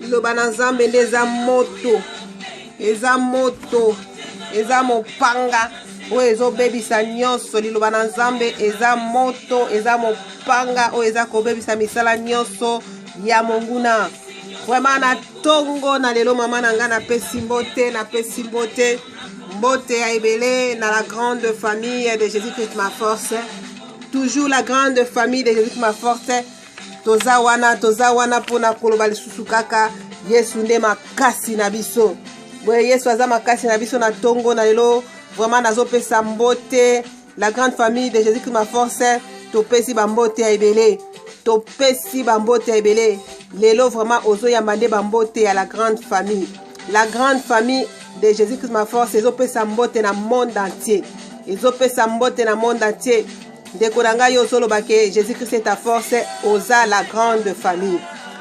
liloba na nzambe nde eza moto eza moto eza mopanga oyo ezobebisa nyonso liloba na nzambe eza moto eza mopanga oyo eza kobebisa misala nyonso ya monguna vraimen na ntongo na lelo mama na ngai napesi mbote napesi mbote mbote ya ebele na la grande famille de jésus christ ma force toujours la grande famille de jésus christ ma force toza wana toza wana mpona koloba lisusu kaka yesu nde makasi na biso boye yesu aza makasi na biso na ntongo na lelo vraiment nazopesa mbote la grande famille de jésus christ ma force topesi bambote ya ebele topesi bambote ya ebele lelo vraiment ozoyamba nde bambote ya la grande famille la grande famille de jésus christ ma force ezopesa mbote na monde entier ezopesa mbote na monde entier ndeko na ngai ozoloba ke jésus christ est ta force oza la grande famille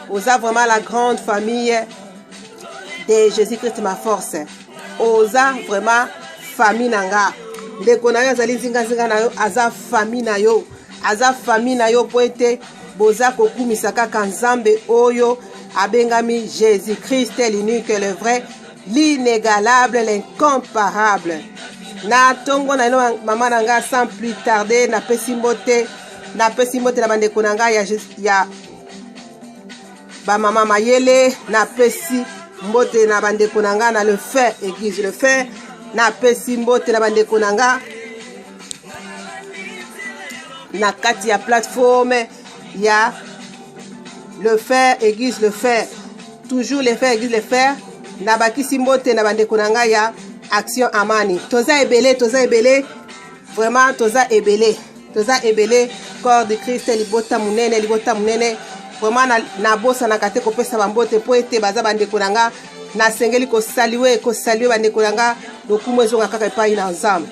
oza vraiment la grande famille de jésus christ ma force oza vraiment famille na nga ndeko na yo azali nzinganzinga na yo aza famille na yo aza famille na yo mpo ete boza kokumisa kaka nzambe oyo abengami jésus christ l'unique le vrai L'inegalable, l'incomparable. Na tongo na ino mama na nga sans plus tarder na pesi mbote na pesi mbote na bandeko na nga ya, ya bamama mayele na pesi mbote na bandeko na nga na le fin église le fin na pesi mbote na bandeko na nga na kati ya plateforme ya le fer aiguise le fer toujours le fer aiguise le fer nabakisi mbote na bandeko na ngai ya action amani toza ebele toza ebele vraiment toza ebele toza ebele corps de christ libota monene libota monene vraiment nabosanaka te kopesa bambote mpo ete baza bandeko na nga nasengeli kosalue kosalue bandeko na nga lokumu ezonga kaka epai na nzambe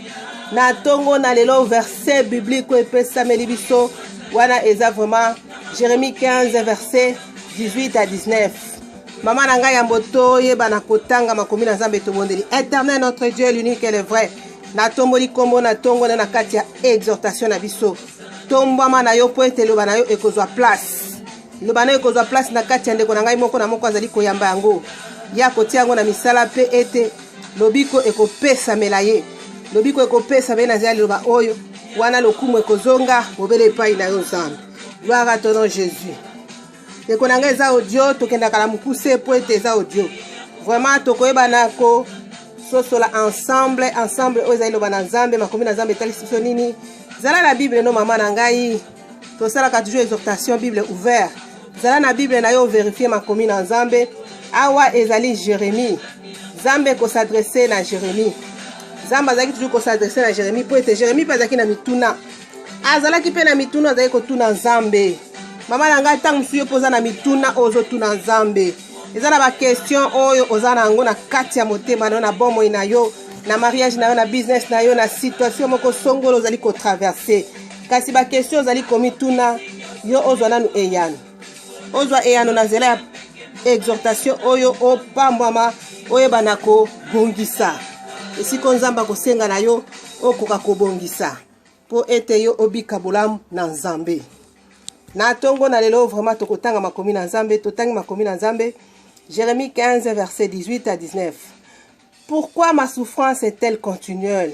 na ntongo na lelo verset biblique oyo epesameli biso wana eza vraiment jérémie 15 verset 18 à 19 mama na ngai yambo toyebana kotanga makomi na nzambe tobondeli éternel notre dieu l'unique et le vrai natomboli nkombo na ntongo na na kati ya exhortation na biso tombwama na yo mpo ete eloba na yo ekozwa place eloba na yo ekozwa place na kati ya ndeko na ngai moko na moko azali koyamba yango ya kotia yango na misala mpe ete lobiko ekopesamela ye lobiko ekopesamela ye na zela liloba oyo wana lokumu ekozonga bobele epai na yo nzambe gloire à ton nom jésus ndeko na ngai eza audio tokendaka na mokuse mpo ete eza audio vraiment tokoyebana ko sosola ensemble ensemble oyo ezali loba na nzambe makomi na nzambe etalisi biso nini zala na bible no mama na ngai tosalaka toujours exhortation bible ouvert zala na bible na yo overifie makomi na nzambe awa ezali jérémie nzambe kosadresse na jérémie nzambe azalaki toujours kosadresse na jérémie mpo ete jérémie mpe azalaki na mituna azalaki mpe na mituna azalaki kotuna nzambe mama na ngai ntango mosusu yo mpo oza na mituna oyo ozotuna nzambe eza na bakestion oyo oza na yango na kati ya motema na yo na bomoi na yo na mariage na yo na business na yo na situation moko songolo ozali kotraverse kasi bakestio ozali komituna yo ozwa nanu eyano ozwa eyano na nzela ya exhortation oyo opambwama oyeba na kobongisa esika oyo nzambe akosenga na yo okoka kobongisa mpo ete yo obika bolamu na nzambe na ntongo na lelo vraiment tokotanga makomi na nzambe totangi makomi na nzambe jérémie 15 verset 18 à 19 pourquoi ma souffrance est-elle continuelle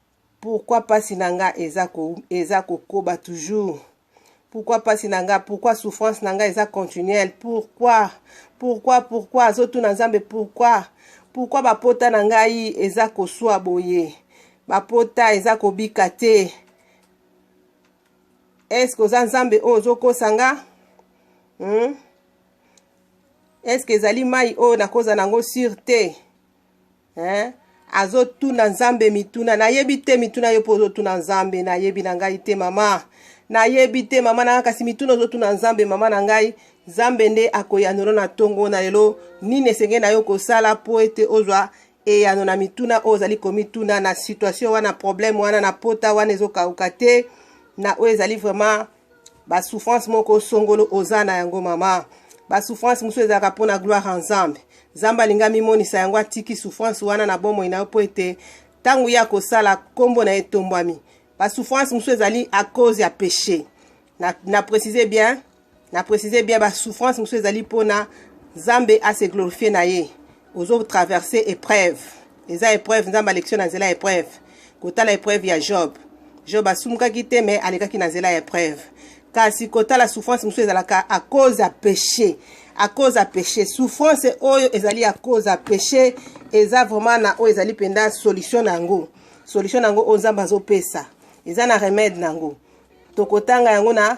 Pourquoi pasi na nga eza ko eza kokoba toujours? Pourquoi pasi na nga? Pourquoi souffrance na nga eza continuelle? Pourquoi? Pourquoi pourquoi azotuna Nzambe pourquoi? Pourquoi bapota na ngai eza koswa boye? Bapota eza kobika te. Est-ce que oza Nzambe oyo ozokosa nga? Hmm? Est-ce que ezali mai oyo nakoza nango sur te? hein? azotuna nzambe mituna nayebi te mituna yo mpo ozotuna nzambe nayebi na ngai te mama nayebi te mama na ngai kasi mituna ozotuna nzambe mama na ngai nzambe nde akoyanola na ntongo na lelo nini esengeli na yo kosala mpo ete ozwa eyano na mituna oyo ozali komituna na situation wana problème wana na pota wana ezokauka te na oyo ezali vraiment ba souffrance moko songolo oza na yango mama ba souffrance mosusu ezalaka mpo na gloire ya nzambe nzambe alingi amimonisa yango atiki souffrance wana na bomoi na yo mpo ete ntango ye akosala nkombo na ye etombwami ba souffrance mosusu ezali à cause ya péché na, na précise bien na précise bien ba souffrance mosusu ezali mpo na nzambe ase glorifie na ye ozo traverse epreuve eza epreuve nzambe alekisi na nzela ya epreuve kotala epreuve ya job job asumukaki te me alekaki na nzela ya epreuve kasi kotala souffrance mosusu ezalaka a cause ya péché a cause ya péché souffrance oyo ezali a cause ya péché eza vraiment na oyo ezali mpenza solution na yango solution na yango oyo nzambe azopesa eza na remède na yango tokotanga yango na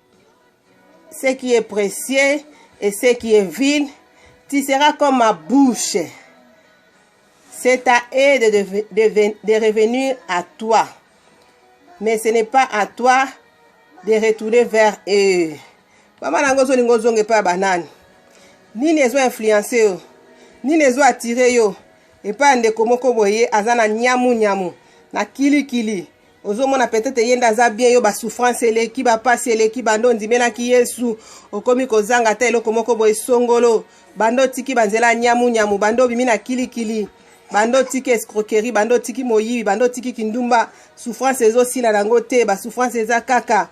ce qui est précieux et ce qui est vil, tu seras comme ma bouche. C'est à eux de, de, de, de revenir à toi. Mais ce n'est pas à toi de retourner vers eux. Mama nango zo lingo zonge pa banane. Nini ezo influencer yo? Nini ezo attirer yo? Epa ndeko moko boye aza na nyamu nyamu, na kili kili. ozomona peut-être ye nde aza bien yo basouffrance eleki bapasi eleki bando ondimelaki yesu okomi kozanga ata eloko moko boye songolo bando otiki banzela ya nyamunyamu bando obimi na kilikili bando otiki escroquerie bando otiki moyibi bando otiki kindumba souffrance ezosila nango te basouffrance eza kaka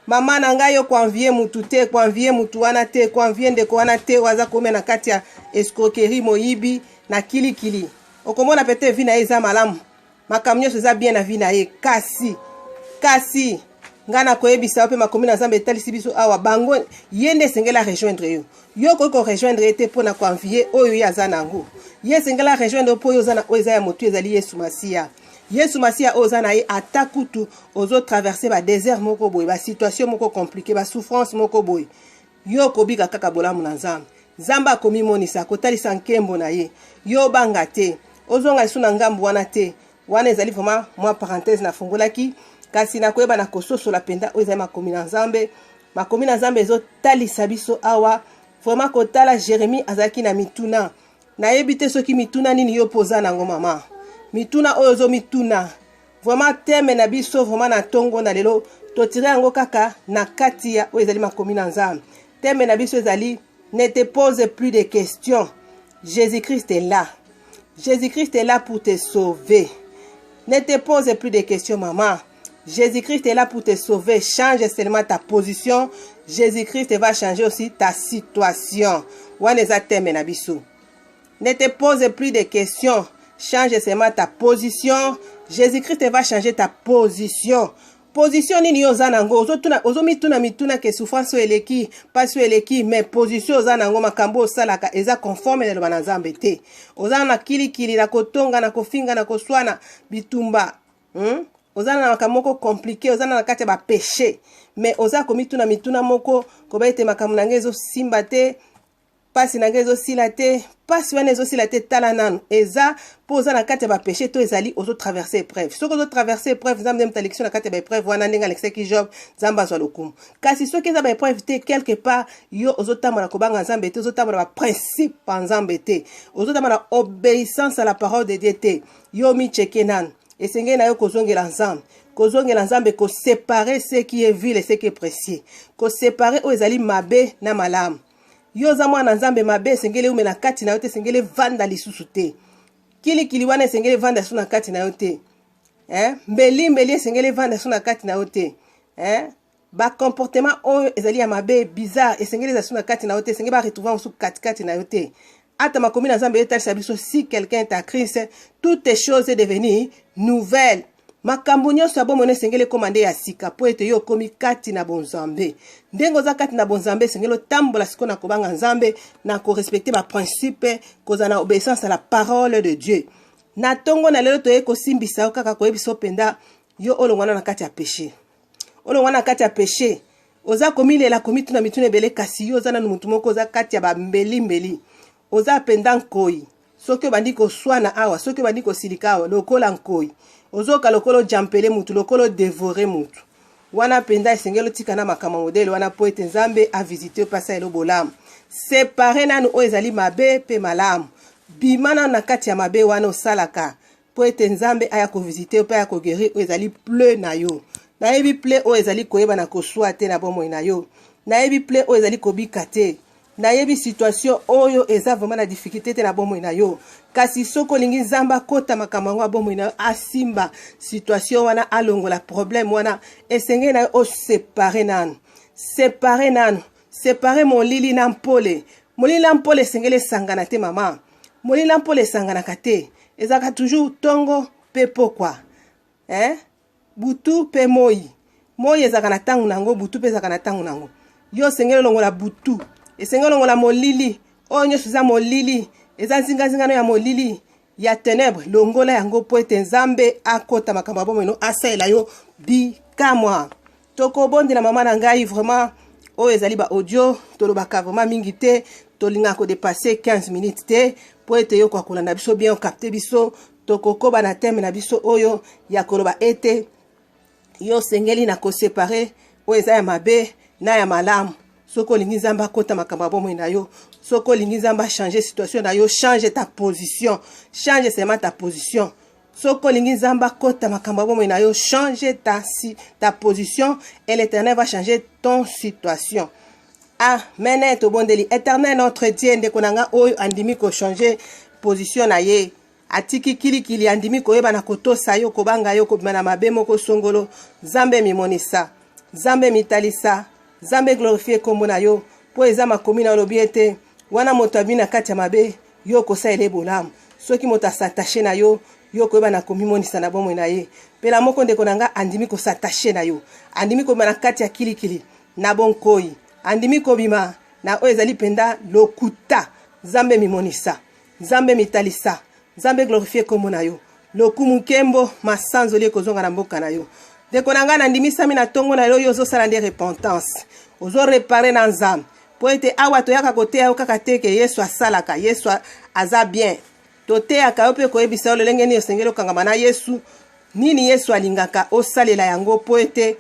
mama na ngai okoanvie mutu te koanvie mutu wana te koanvie ndeko wana te oyo aza komia na kati ya escroquerie moyibi na kilikili okomona pete vi na ye eza malamu makambo nyonso eza bien na vie na ye kasi kasi ngai nakoyebisa yo mpe makomi na nzambe etalisi biso awa bango ye nde esengeli arejoindre yo yo okoki korejoindre ye te mpo na koanvie oyo ye aza na yango ye esengeli arejoindre yo mpo yo oza na oyo eza ya motu ezali yesu masiya yesu masiya oyo oza na ye ata kutu ozotraverse badesert moko boye basituation moko komplike basouffrance moko boye Yo okobika kaka bolamu na Nzambe. Nzambe akomimonisa, akotalisa nkembo na ye. Yo obanga te, ozonga lisusu na ngambo wana te. Wana ezali vraiment mwa parenthèse nafungolaki, kasi nakoyeba na kososola mpenza oyo ezali makomi na Nzambe. Makomi na Nzambe ezotalisa biso awa vraiment kotala Jeremie azalaki na mituna. Nayebi te soki mituna nini yo mpo oza nango mama, mituna oyo ozomituna Vraiment teme na biso vraiment na ntongo na lelo totire yango kaka na kati ya oyo ezali makomi na Nzambe. Teme na biso ezali ne te pose plus de questions. Jésus-Christ est là. Jésus-Christ est là pour te sauver. Ne te pose plus de questions, maman. Jésus-Christ est là pour te sauver. Change seulement ta position. Jésus-Christ va changer aussi ta situation. Wana eza teme na biso. Ne te pose plus de questions. Change seulement ta position. Jésus-Christ va changer ta position. Position nini yo oza nango ozotuna ozomituna mituna ke souffrance oyo eleki mpasi oyo eleki mais position oza nango makambo osalaka eza conforme na eloba na nzambe te oza na kilikili na kotonga na kofinga na koswana bitumba hmm? oza na makambo moko komplike oza na kati ya bapeche mais oza komituna mituna moko koba ete makambo na ngai ezosimba te pasi na ngai ezosila te pasi wana ezosila te tala nanu eza mpo oza na kati ya bapeche to ezali ozotraverse épreuve soki ozotraverse épreuve nzambe nde moto alekisi na kati ya baépreuve wana ndenge alekisaki job nzambe azwa lokumu kasi soki eza baépreuve te quelque part yo ozotambola kobanga nzambe te ozotambola baprincipe ya nzambe te ozotambola obéissance à la parole de dieu te yo micheke nanu esengeli na yo kozongela nzambe kozongela nzambe kosepare ce qui est vile ce qui est précieux kosepare oyo ezali mabe na malamu yo oza mwana nzambe mabe esengeli eume na kati na yo te esengeli evanda lisusu te kilikili wana esengeli evanda lisusu na kati na yo te eh? mbeli mbeli esengeli evanda lisusu na kati na yo te eh? bacomportement oyo ezali ya mabe bizarre esengeli eza lisusu na kati na yo te esengeli baretrouve yango susu katikati na yo te ata makomi na nzambe etalisa biso si quelqu'un est à christ toutes choses est devenu nouvelle Makambo nyonso ya bomoi na esengeli ekoma nde ya sika mpo ete yo okomi kati na bonzambe. Ndenge oza kati na bonzambe esengeli otambola sikoyo na kobanga Nzambe, na korespecte baprincipe, kozala na obeissance ya la parole de Dieu. Na ntongo na lelo toyei kosimbisa yo kaka koyebisa yo mpenza yo olongwana na kati ya peshe, olongwana na kati ya peshe. Oza komilela komituna mituna ebele, kasi yo oza nanu motu moko oza kati ya bambelimbeli. Oza penda nkoyi soki obandi koswana awa soki obandi kosilika awa lokola nkoyi ozoka lokola ojampele mutu lokola odevore mutu wana mpenza esengeli otika na makambo modele wana mpo ete nzambe avisite yo mpe asala elo bolamu separe nanu oyo ezali mabe mpe malamu bima nanu na kati ya mabe wana osalaka mpo ete nzambe aya kovisite yo mpe aya kogerir oyo ezali ple na yo nayebi ple oyo ezali koyeba na koswa te na bomoi na yo nayebi ple oyo ezali kobika te nayebi situation oyo eza vraiment na difficulté te na bomoi na yo kasi soki olingi nzambe akota makambo yango ya bomoi na yo asimba situation wana alongola problème wana esengeli na yo osepare nanu separe nanu Separe molili na mpole. Molili na mpole esengeli esangana te mama. Molili na mpole esanganaka te. Ezalaka toujours tongo pe pokwa. Hein? Butu pe moyi. Moyi ezalaka na tango nango, butu pe ezalaka na tango nango. Yo osengeli olongola butu. Esengeli olongola molili. Oyo nyonso eza molili. Eza nzinga nzinga no ya molili. ya tenebre longola yango mpo ete nzambe akota makambo ya bomoi no asalela yo bikamwa tokobondela mama na ngai vraiment oyo ezali baaudio tolobaka vraiment mingi te tolingaka kodepasse 15 minutes te mpo ete yo koakolanda biso bien okapte biso tokokoba na teme na biso oyo ya koloba ete yo osengeli na kosepare oyo eza ya mabe na ya malamu soki olingi nzambe akota makambo ya bomoi na yo soki olingi nzambe achange situation na yo change ta position change seulement ta position soki olingi nzambe akota makambo ya bomoi na yo change ta, si, ta position et l'éternel va changer ton situation amen ah, tobondeli éternel notre dieu ndeko na ngai oyo andimi kochange position na ye Atiki kilikili, andimi koyebana, kotosa yo, kobanga yo, kobima na mabe moko songolo. Zambe mimonisa, Zambe mitalisa, Zambe glorifie kombo na yo, po eza makomi na olobi ete wana moto abimi na kati ya mabe, yo okosalela ye bolamu. Soki moto asatache na yo, yo koyeba na komimonisa na bomoi na ye pela moko ndeko na nga andimi kosatache na yo andimi kobima na kati ya kilikili na bonkoi andimi kobima na oyo ezali mpenza lokuta zambe mimonisa Nzambe mitalisa, Nzambe glorifie kombo na yo. Lokumu nkembo masanzoli ekozonga na mboka na yo. Ndeko na ngai nandimisami na ntongo na yo, yo ozosala nde repentance, ozorepare na Nzambe mpo ete awa toyaka koteya yo kaka te ke Yesu asalaka, Yesu aza bien. Toteyaka yo mpe koyebisa yo lolenge nini osengeli okangama na Yesu, nini Yesu alingaka osalela yango mpo ete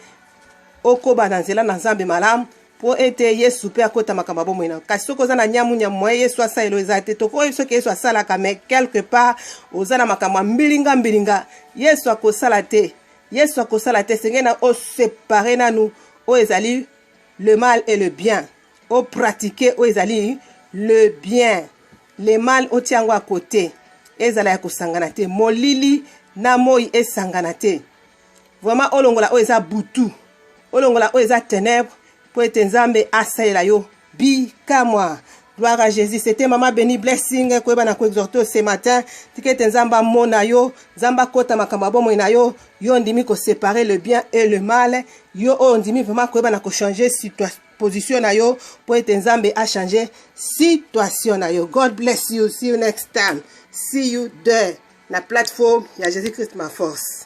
okoba na nzela na Nzambe malamu mpo ete yesu mpe akota makambo ya bomoi na yo kasi soki oza na nyamu nyamu moye yesu asalela eza te tokoyebi soki yesu asalaka mais quelque part oza na makambo ya mbilinga mbilinga yesu akosala te yesu akosala te esengeli na osepare nanu oyo ezali le mal et le bien opratike oyo ezali le bien le mal otia yango ya kote ezala ya kosangana te molili na moi esangana te Vraiment olongola oyo eza butu. Olongola oyo eza ténèbres pour ete Nzambe asalela yo bikamwa. Gloire à Jésus. C'était Maman Béni Blessing. Koyeba na ko exhorter ce matin. Tikete nzamba mona yo. Nzamba kota makambo abomo na yo. Yo ndimi ko séparer le bien et le mal. Yo o ndimi vraiment koyeba na ko changer situation position na yo pour ete nzambe a changer situation na yo. God bless you. See you next time. See you there na plateforme ya Jésus Christ ma force.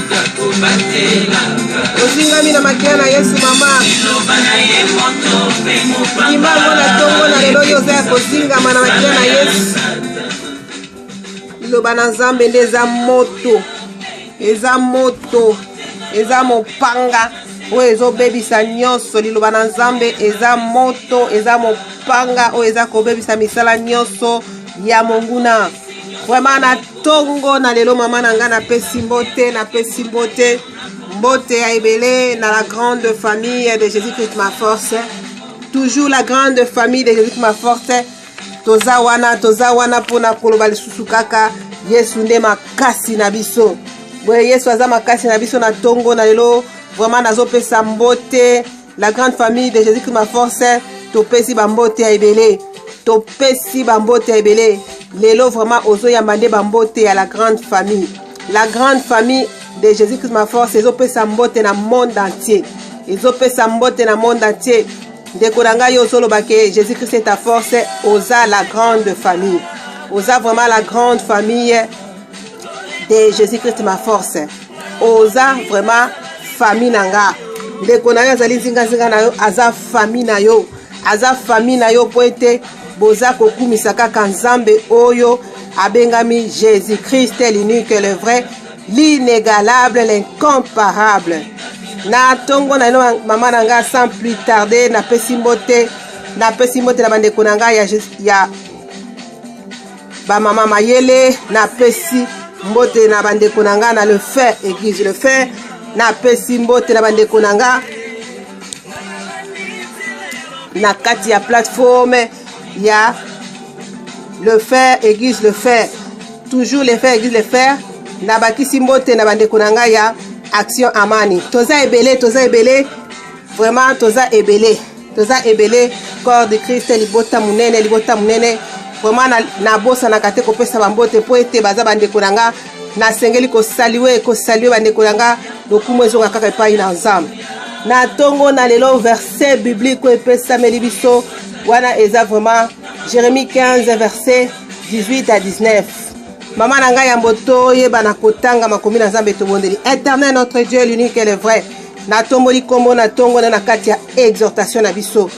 ozingami na makila na yesu mama limango na ntongo na lelo oyo oza ya kozingama na makila na yesu liloba na nzambe nde eza moto eza moto eza mopanga oyo ezobebisa nyonso liloba na nzambe eza moto eza mopanga oyo eza kobebisa misala nyonso ya monguna vraimen tongo na lelo mama na ngai napesi mbote napesi mbote mbote ya ebele na la grande famille de jésus christ ma force toujours la grande famille de jésus christ ma force toza wana toza wana mpona koloba lisusu kaka yesu nde makasi na biso boye yesu aza makasi na biso na ntongo na lelo vraimen nazopesa mbote la grande famille de jésus christ ma force topesi bambote ya ebele topesi bambote ya ebele lelo vraiment ozoyamba nde bambote ya la grande famille la grande famille de jésus christ ma force ezopesa mbote na monde entier ezopesa mbote na monde entier ndeko na ngai ozoloba ke jésus christ est ta force oza la grande famille oza vraiment la grande famille de jésus christ ma force oza vraiment famille na nga ndeko na yo azali nzinganzinga na yo aza famille na yo aza famille na yo mpo ete boza kokumisa kaka nzambe oyo abengami jésus christ l'unique le vrai l'inégalable l'incomparable na ntongo na ino mama na ngai sans plus tarde napesi mbote napesi mbote na bandeko na ngai ya, ya Ba mama mayele na pesi mbote na bandeko na nga na le fait église le fait na pesi mbote na bandeko na nga na kati ya plateforme ya le fer aiguise le fer toujours le fer aiguise le fer nabakisi mbote na bandeko na ngai ya action amani toza ebele toza ebele vraiment toza ebele toza ebele corps de christ libota monene libota monene vraiment nabosanaka te kopesa bambote mpo ete baza bandeko na nga nasengeli kosalue kosalue bandeko na nga lokumu ezonga kaka epai na nzambe na ntongo na lelo verset biblique oyo epesameli biso wana eza vraiment jérémie 15 verset 18 à 19 mama na ngai yambo toyebana kotanga makomi na nzambe tobondeli éternel notre dieu l'unique et le vrai Natomboli nkombo na ntongo na na kati ya exhortation na biso.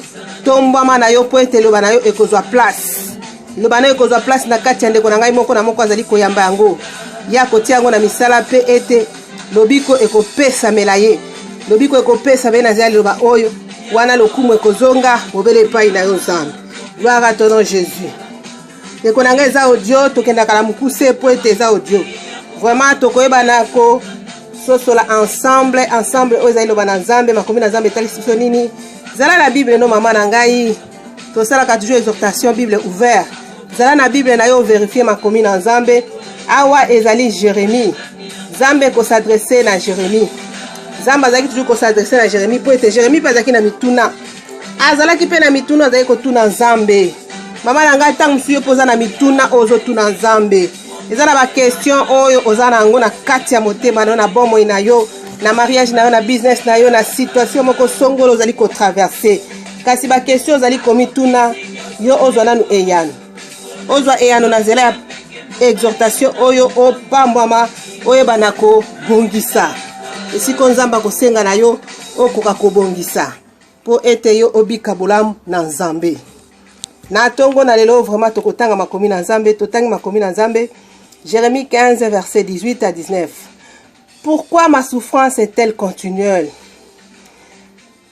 Tombwama na yo mpo ete eloba na yo ekozwa place. Eloba na yo ekozwa place na kati ya ndeko na ngai moko na moko azali koyamba yango. Ye akotia yango na misala mpe ete lobiko ekopesamela ye. Lobiko ekopesamela ye na zela liloba oyo. Wana lokumu ekozonga bobele epai na yo Nzambe. Gloire à ton nom Jésus. ndeko na ngai eza audio tokendaka na mokuse mpo ete eza audio vraiment tokoyebana ko sosola ensemble ensemble oyo ezali loba na nzambe makomi na nzambe etalisi biso nini zala na bible no mama na ngai tosalaka toujours exhortation bible ouvert zala na bible na yo overifie makomi na nzambe awa ezali jérémie nzambe kosadresse na jérémie nzambe azalaki toujours kosadresse na jérémie mpo ete jérémie mpe azalaki na mituna azalaki mpe na mituna azalaki kotuna nzambe mama na ngai ntango mosusu yo mpo oza na mituna oyo ozotuna nzambe eza na bakestion oyo oza na yango na kati ya motema na yo na bomoi na yo na mariage na yo na business na yo na situation moko songolo ozali kotraverse kasi bakestion ozali komituna yo ozwa nanu eyano ozwa eyano na nzela ya exhortation oyo opambwama oyebana kobongisa esiko nzambe akosenga na yo okoka kobongisa mpo ete yo obika bolamu na nzambe na ntongo na lelo vraiment tokotanga makomi na nzambe totangi makomi na nzambe jérémie 15 verset 18 à 19 pourquoi ma souffrance est-elle continuelle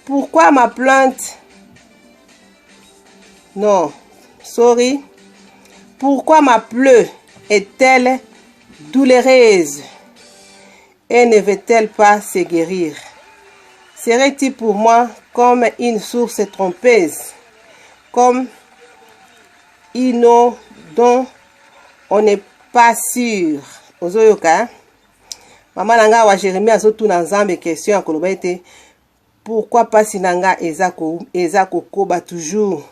pourquoi ma plainte non sorry pourquoi ma pleure est-elle douloureuse Et ne veut-elle pas se guerir? Serait-il pour moi comme une source trompeuse, comme une eau dont on n'est pas sûr? Ozoyoka, hein? Mama na ngai wa Jeremie azotuna Nzambe question ya koloba ete Pourquoi pasi na nga eza ko eza kokoba toujours?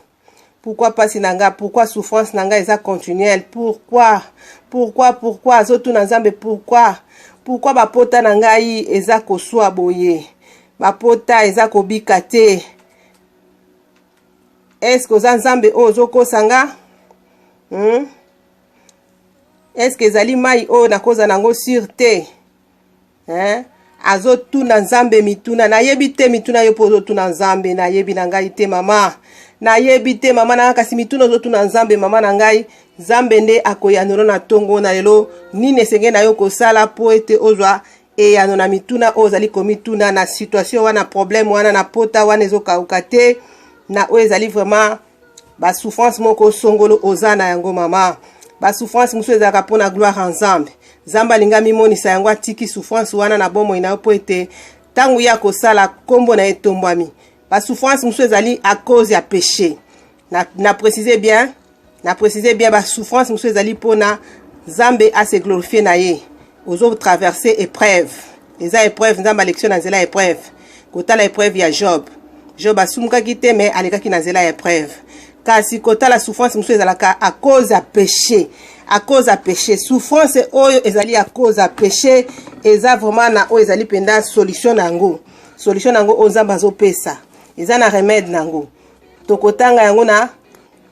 Pourquoi pasi na nga? Pourquoi souffrance na nga eza continuelle? Pourquoi? Pourquoi pourquoi azotuna Nzambe pourquoi? Pourquoi bapota na ngai eza koswa boye? Bapota eza kobika te. Est-ce que oza Nzambe oyo ozokosa nga? Hmm? Est-ce que ezali mai oyo nakoza nango sur te? eh? azotuna nzambe mituna nayebi te mituna yo mpo ozotuna nzambe nayebi na ngai te mama nayebi te mama na ngai kasi mituna ozotuna nzambe mama na ngai nzambe nde akoyanola na ntongo na lelo nini esengeli na yo kosala mpo ete ozwa eyano na mituna oyo ozali komituna na situation wana problème wana na pota wana ezokauka te na oyo ezali vraiment ba souffrance moko songolo oza na yango mama ba souffrance mosusu ezalaka mpo na gloire ya nzambe nzambe alingi amimonisa yango atiki souffrance wana na bomoi na yo mpo ete ntango ye akosala nkombo na ye etombwami ba souffrance mosusu ezali à cause ya péché na, na précise bien na précise bien ba souffrance mosusu ezali mpo na nzambe ase glorifie na ye ozo traverse épreuve eza epreuve nzambe alekisi yo na nzela ya epreuve kotala epreuve ya job job asumukaki te me alekaki na nzela ya epreuve kasi kotala souffrance mosusu ezalaka a cause ya péché a cause ya péché souffrance oyo ezali a cause ya péché eza vraiment na oyo ezali mpenza solution na yango solution na yango oyo nzambe azopesa eza na remède na yango tokotanga yango na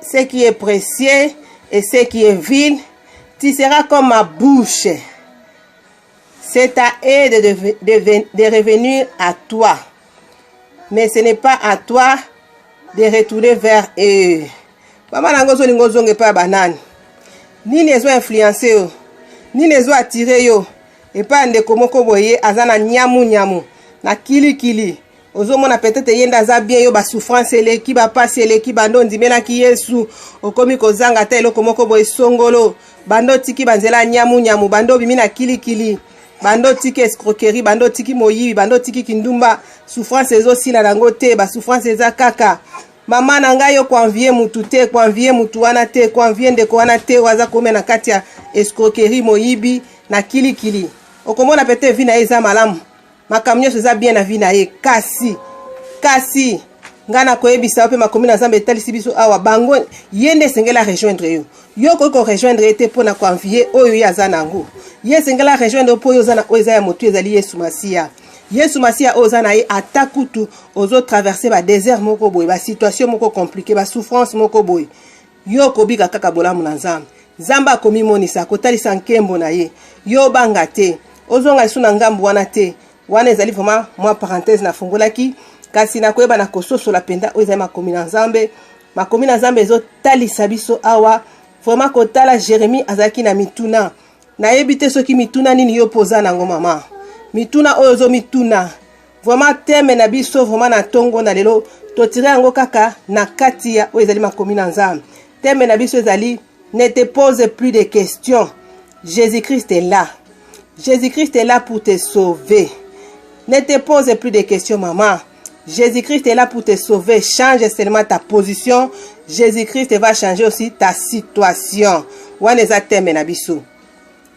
ce qui est précieux et ce qui est vil, tu seras comme ma bouche. C'est à eux de, de, de, de revenir à toi. Mais ce n'est pas à toi de retourner vers eux. Maman nango ozolinga ozonga epai ya banani nini ezo influence yo nini ezo attire yo epai ya ndeko moko boye aza na nyamu nyamu na kilikili ozomona petete ye nde aza bien yo basouffrance eleki bapasi eleki bando ondimelaki yesu okomi kozanga ata eloko moko boye songolo bando otiki banzela ya nyamunyamu bando obimi na kilikili bando otiki escroquerie bando otiki moyibi bando otiki kindumba souffrance ezosila nango te basouffrance eza kaka mama na ngai yo koanvie mutu te koanvie mutu wana te koanvie ndeko wana te oyo aza komia na kati ya escroquerie moyibi na kilikili okomona pete vi na ye eza malamu makambo nyonso eza bien na vie na ye kasi kasi ngai nakoyebisa yo mpe makomi na nzambe etalisi biso awa bango ye nde esengeli arejoindre yo yo okoki korejoindre ye te mpo na koanvie oyo ye aza na yango ye esengeli arejoindre yo mpo yo oza na oyo eza ya motu ezali yesu masiya yesu masiya oyo oza na ye ata kutu ozotraverse badesert moko boye basituation moko komplike basouffrance moko boye Yo okobika kaka bolamu na Nzambe. Nzambe akomimonisa, akotalisa nkembo na ye. Yo obanga te, ozonga lisusu na ngambo wana te. Wana ezali vraiment mwa parenthèse nafungolaki, kasi nakoyeba na kososola mpenza oyo ezali makomi na Nzambe. Makomi na Nzambe ezotalisa biso awa vraiment kotala Jeremie azalaki na mituna nayebi te soki mituna nini yo mpo oza nango mama mituna oyo ozomituna vraiment teme na biso vraiment na ntongo na lelo totire yango kaka na kati ya oyo ezali makomi na nzambe teme na biso ezali ne te pose plus de questions jésus christ est là jésus christ est là pour te sauver ne te pose plus de questions mama Jésus-Christ est là pour te sauver. Change seulement ta position. Jésus-Christ va changer aussi ta situation. Wana eza teme na biso.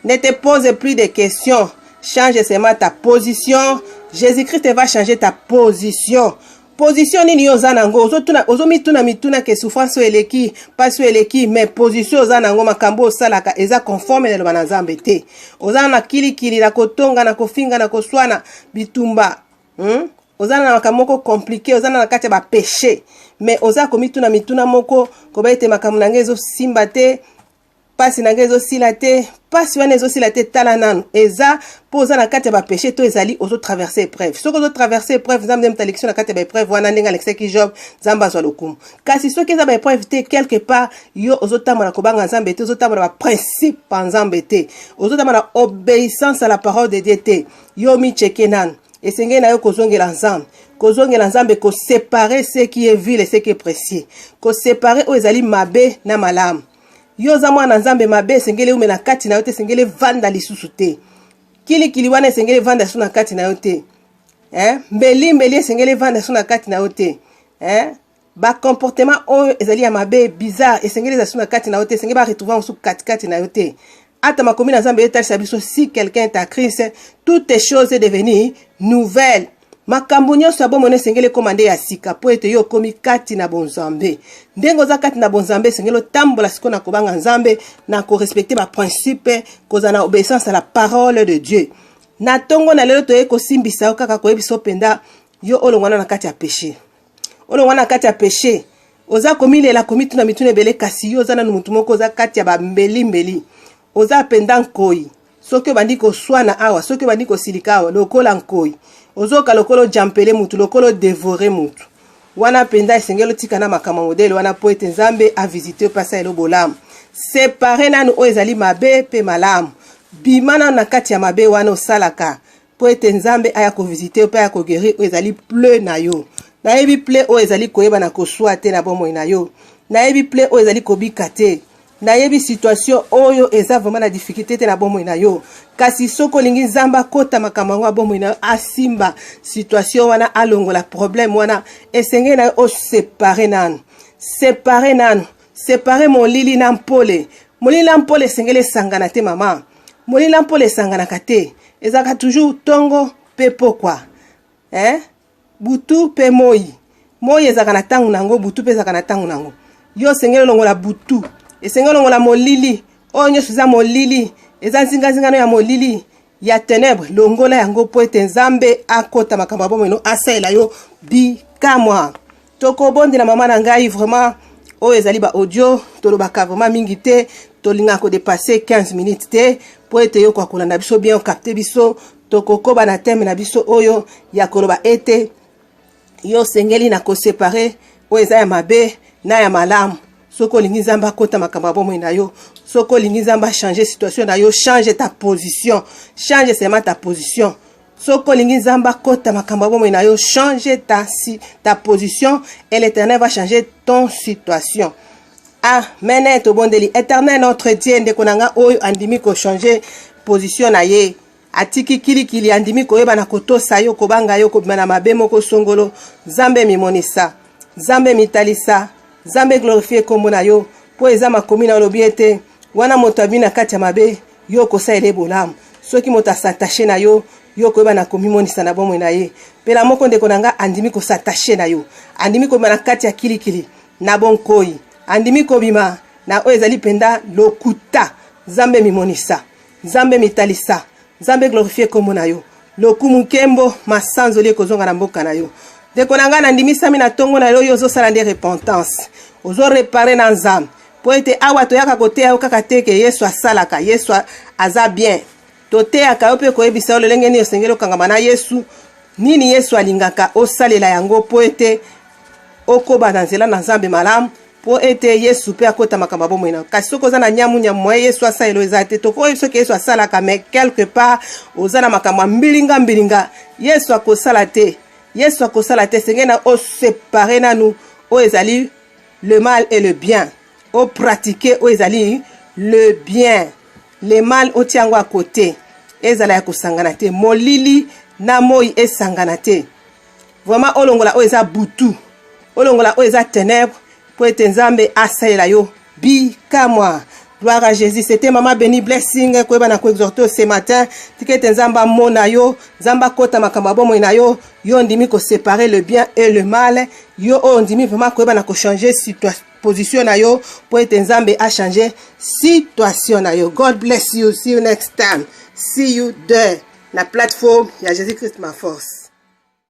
Ne te pose plus de questions. Change seulement ta position. Jésus-Christ va changer ta position. position nini yo oza nango ozomituna mituna ke souffrance oyo eleki mpasi oyo eleki mais position oza nango makambo osalaka eza conforme na eloba na nzambe te oza na kilikili na kotonga na kofinga na koswana bitumba hmm? oza na makambo moko komplike oza na na kati ya bapeche mais oza komituna mituna moko koba ete makambo na ngai ezosimba te mpasi na ngai ezosila te mpasi wana ezosila te tala nanu eza mpo oza na kati ya bapeche to ezali ozotraverse epreuve soki ozotraverse epreuve nzambe nde moto alekisi na kati ya baepreuve wana ndenge alekisaki job nzambe azwa lokumu kasi soki eza baepreuve te quelque part yo ozotambola kobanga nzambe te ozotambola baprincipe ya nzambe te ozotambola obeissance à la parole de dieu te Yo omi cheke nanu. Esengeli na yo kozongela Nzambe. Kozongela Nzambe ko séparer ce qui est vil et ce qui est précieux. Ko séparer oyo ezali mabe na malamu. Yo oza mwana Nzambe mabe esengeli eumela na kati na yo te, esengeli evanda lisusu te. Kilikili wana esengeli evanda lisusu na kati na yo te. Eh? Mbeli mbeli esengeli evanda lisusu na kati na yo te. Eh? ba comportement oyo ezali ya mabe bizarre esengeli ezala suna kati na yo te esengeli ba retrouver yango suku katikati na yo te ata makomi na nzambe etalisa biso si quelqu'un est à christ toutes les choses est devenu nouvelle makambo nyonso ya bomoi esengeli ekoma nde ya sika mpo ete yo okomi kati na bonzambe ndenge oza kati na bonzambe esengeli otambola sikoyo na kobanga nzambe na korespecte baprincipe kozala na obéissance à la parole de dieu na ntongo na lelo toyei kosimbisa yo kaka koyebisa yo mpenza yo olongwana na kati ya péché olongwa na kati ya peche oza komilela komituna mituna ebele kasi yo oza nanu motu moko oza kati ya bambelimbeli oza mpenza nkoi soki obandi koswana awa soki obandi kosilika awa lokola nkoi ozoka lokola ojampele motu lokola odevore motu wana mpenza esengeli otika na makambo modele wana mpo ete nzambe avisite yo mpe asalelo bolamu separe nanu oyo ezali mabe mpe malamu bima nanu na kati ya mabe wana osalaka mpo ete nzambe aya kovisite yo mpe aya kogerir oyo ezali ple na yo nayebi ple oyo ezali koyeba na koswa te na bomoi na yo nayebi ple oyo ezali kobika te nayebi situation oyo eza vraiment na difficulté te na bomoi na yo kasi soki olingi nzambe akota makambo yango ya bomoi na yo asimba situation wana alongola problème wana esengeli na yo osepare nanu separe nanu separe molili na mpole molili na mpole esengeli esangana te mama Molila mpola esanganaka te, ezalaka toujours tongo pe pokwa eh? butu pe moi. Moi ezalaka na tango nango, butu pe ezalaka na tango nango. Yo osengeli olongola butu, esengeli olongola molili. Oyo nyonso eza molili, eza nzinganzingano ya molili ya tenebre. Longola yango mpo ete Nzambe akota makambo ya bomoi no, asalela yo bikamwa. tokobondela mama na ngai vraiment oyo ezali ba audio tolobaka vraiment mingi te tolingaka kodepasse 15 minutes te mpo ete yokoka kolanda biso bien okapte biso tokokoba na teme na biso oyo ya koloba ete yo osengeli na kosepare oyo eza ya mabe na ya malamu soki olingi nzambe akota makambo ya bomoi na yo soki olingi nzambe achange situation na yo change ta position change seulement ta position soki olingi nzambe akota makambo ya bomoi na yo change ta, si, ta position et l'éternel va changer ton situation amen ah, tobondeli éternel notre dieu ndeko na ngai oyo andimi kochange position na ye atiki kilikili andimi koyeba na kotosa yo kobanga yo kobima na mabe moko songolo nzambe mimonisa nzambe mitalisa nzambe glorifie nkombo na yo mpo eza makomi na olobi ete wana moto abimi na kati ya mabe Yo okosalela ye bolamu soki moto a s'attacher na yo, yo okoyeba na komimonisa na bomoi na ye. Pelamoko ndeko na nga andimi ko s'attacher na yo, andimi kobima na kati ya kilikili na bonkoyi, andimi kobima na oyo ezali penda lokuta. Nzambe mimonisa, Nzambe mitalisa, Nzambe glorifier kombo na yo. Lokumu, nkembo, masanzoli ekozonga na mboka na yo. Ndeko na nga nandimisami na tongo na yo, yo ozosala nde repentance, ozo reparer na Nzambe. mpo ete awa toyaka koteya yo kaka te ke yesu asalaka yesu aza bien toteyaka yo mpe koyebisa yo lolenge nini osengeli okangama na yesu nini yesu alingaka osalela yango mpo ete okoba na nzela na nzambe malamu mpo ete yesu mpe akota makambo ya bomoi na yo kasi soki oza na nyamu nyamu moye yesu asalelo eza te tokoyebi soki yesu asalaka mais quelque part oza na makambo ya mbilinga mbilinga yesu akosala te yesu akosala te esengeli na osepare nanu oyo ezali le mal et le bien o pratique oyo ezali le bien le mal otia yango ya kote ezala ya kosangana te molili na moi esangana te vraimen olongola oyo eza butu olongola oyo eza tenebre mpo ete nzambe asalela yo bikamwa Gloire à Jésus. C'était Maman Benny Blessing koyeba na koexhorter ce matin tikete Nzambe amona yo, Nzambe akota makambo ya bomoi na yo, yo ondimi ko séparer le bien et le mal, yo oyo ondimi vraiment koyeba na ko changer situation position na yo mpo ete Nzambe a changer situation na yo. God bless you. See you next time. See you there na plateforme ya Jésus Christ ma force.